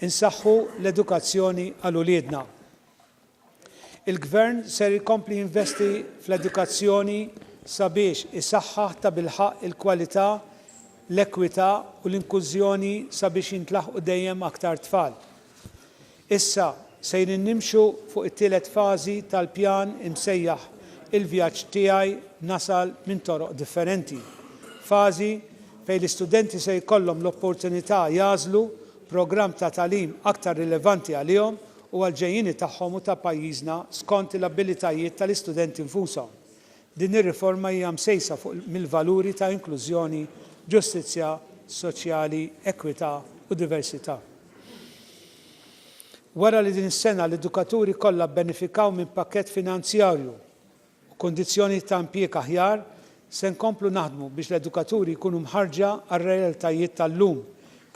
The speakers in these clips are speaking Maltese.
insaħħu l-edukazzjoni għal uliedna. Il-Gvern ser jkompli jinvesti fl-edukazzjoni sabiex isaħħaħ ta' bilħaq il-kwalità, l-ekwità u l-inkużjoni sabiex jintlaħqu dejjem aktar tfal. Issa sejrin nimxu fuq it-tielet fażi tal-pjan imsejjaħ Il-Vjaġġ Tiegħi Nasal minn Toroq Differenti, fażi fejn l-istudenti se jkollhom l-opportunità jagħżlu programm ta' tagħlim aktar rilevanti għalihom u għall-ġejjieni tagħhom u ta' pajjiżna skont l-abilitajiet tal-istudenti nfushom, Din ir-riforma hija msejsa fuq mill-valuri ta' inklużjoni, ġustizzja soċjali, ekwità u diversità. Wara li din is-sena l-edukaturi kollha bbenefikaw minn pakkett finanzjarju u kundizzjonijiet ta' impjieg aħjar, se nkomplu naħdmu biex l-edukaturi jkunu mħarrġa għar-realtajiet tal-lum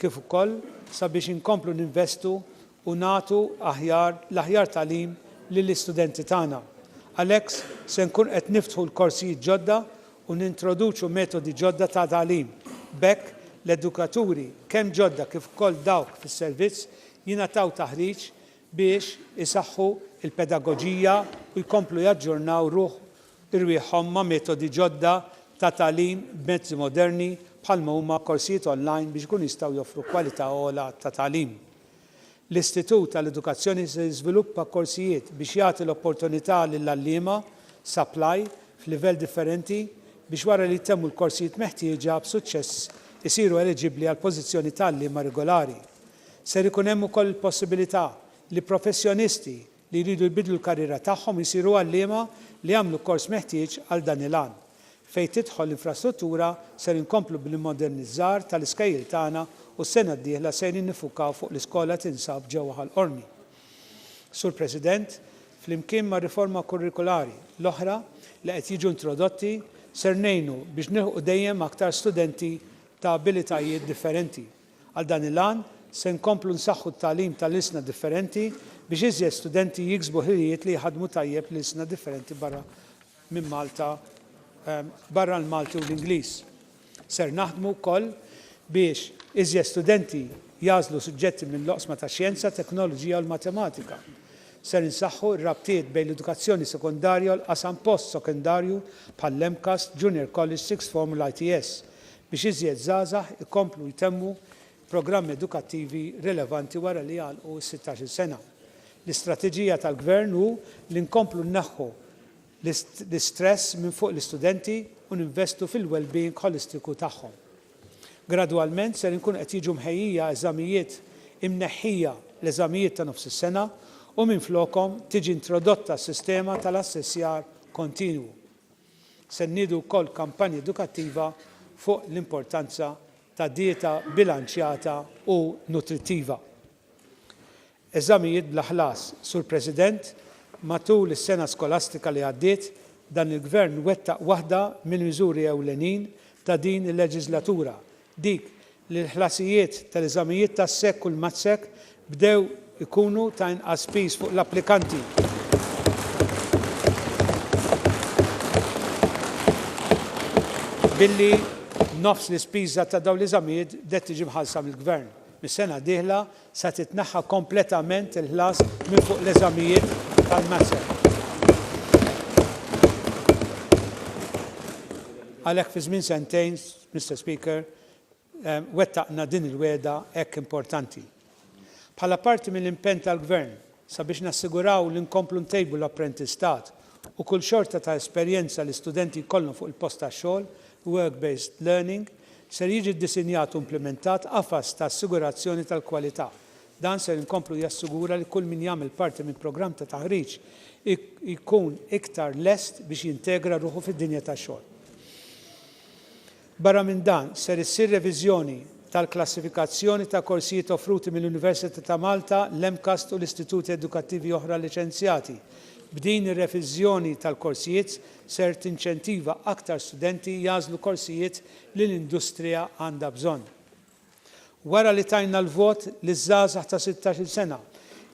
kif ukoll sabiex inkomplu ninvestu u nagħtu aħjar l-aħjar tagħlim lill-istudenti tagħna. Għalhekk se nkun qed niftħu l-korsijiet ġodda u nintroduċu metodi ġodda ta' tagħlim. B'hekk, l-edukaturi, kemm ġodda kif ukoll dawk fis-servizz, jingħataw taħriġ biex isaħħu l-pedagoġija u jkomplu jaġġornaw ruħ irwieħhom ma' metodi ġodda ta' tagħlim b'mezzi moderni bħalma huma korsijiet online biex ikunu jistgħu joffru kwalità ogħla ta' tagħlim. L-Istitut għall-Edukazzjoni se jiżviluppa korsijiet biex jagħti l-opportunità lill-għalliema, supply, f'livell differenti biex wara li jtemmu l-korsijiet meħtieġa b'suċċess isiru eliġibbli għall-pożizzjoni ta' għalliema regolari. Ser ikun hemm ukoll il-possibilità li professjonisti, li jridu jbiddlu l-karriera tagħhom u jsiru għalliema li jagħmlu l-kors meħtieġ għal dan il-għan. Fejn tidħol l-infrastruttura, ser inkomplu bl-immodernizzar tal-iskejjel tagħna u s-sena d-dieħla sejrin niffukaw fuq l-iskola li tinsab ġewwa Ħal Qormi. Sur President, flimkien mar-riforma kurrikulari l-oħra li qed jiġu introdotti, ser ngħinu biex nilħqu dejjem aktar studenti ta' abilitajiet differenti. Għal dan il-għan, se nkomplu nsaħħu t-tagħlim tal-ilsna differenti biex iżjed studenti jiksbu ħiliet li jħaddmu tajjeb l-ilsna differenti barra minn Malta, barra l-Malti u l-Ingliż. Ser naħdmu wkoll biex iżjed studenti jagħżlu suġġetti mill-oqsma tax-xjenza, teknoloġija u l-matematika. Ser insaħħu r-rabtiet bejn l-edukazzjoni sekondarja u l-qasam post-sekondarju bħall-MCAST, Junior College, Sixth Form u l-ITS, biex iżjed żgħażagħ ikomplu jtemmu programmi edukattivi rilevanti wara li jagħlqu s-sittax-il sena. L-istrateġija tal-Gvern hu li nkomplu nneħħu l-istress minn fuq l-istudenti u ninvestu fil-wellbeing ħolistiku tagħhom. Gradwalment ser inkunu qed jiġu mħejjija eżamijiet imneħħija l-eżamijiet ta' nofs is-sena u minflokhom tiġi introdotta s-sistema tal-assessjar kontinwu. Se nniedu wkoll kampanja edukattiva fuq l-importanza ta' dieta bilanċjata u nutrittiva. Eżamijiet bla ħlas, Sur President, matul is-sena skolastika li għaddiet, dan il-Gvern wettaq waħda mill-miżuri ewlenin ta' din il-leġiżlatura, dik li l-ħlasijiet tal-eżamijiet tas-SEC u l-MATSEC bdew ikunu ta' inqas piż fuq l-applikanti. Billi nofs l-ispiża ta' dawn l-eżamijiet bdiet tiġi mħallsa mill-Gvern, mis-sena d-dieħla se titneħħa kompletament il-ħlas minn fuq l-eżamijiet tal-MATSEC. Għalhekk fi żmien sentejn, Mister Speaker, wettaqna din il-wegħda hekk importanti. Bħala parti mill-impenn tal-Gvern sabiex nassiguraw li nkomplu ntejbu l-apprentistat u kull xorta ta' esperjenza li studenti jkollhom fuq il-post tax-xogħol, work-based learning, ser jiġi ddisinjat u implimentat qafas ta' assigurazzjoni tal-kwalità. Dan ser inkomplu jassigura li kull min jagħmel parti minn programm ta' taħriġ jkun iktar lest biex jintegra ruħu fid-dinja tax-xogħol. Barra minn dan, ser issir reviżjoni tal-klassifikazzjoni ta' korsijiet offruti mill-Università ta' Malta, l-MCAST u l-istituti edukattivi oħra liċenzjati. B'din ir-reviżjoni tal-korsijiet ser tinċentiva aktar studenti jagħżlu korsijiet li l-industrija għandha bżonn. Wara li tajna l-vot liż-żgħażagħ ta' sittax-il sena,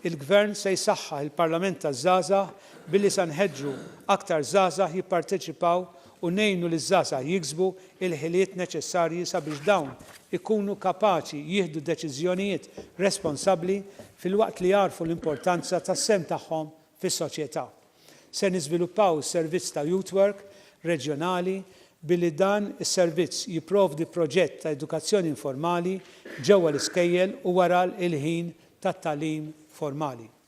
il-Gvern se jsaħħaħ il-Parlament taż-Żgħażagħ billi sa nħeġġu aktar żgħażagħ jipparteċipaw u ngħinu liż-żgħażagħ jiksbu l-ħiliet neċessarji sabiex dawn ikunu kapaċi jieħdu deċiżjonijiet responsabbli filwaqt li jagħrfu l-importanza tas-sehem tagħhom fis-soċjetà. Se niżviluppaw servizz ta' Youth Work reġjonali billi dan is-servizz jipprovdi proġett ta' edukazzjoni informali ġewwa l-iskejjel u wara l-ħin tat-tagħlim formali.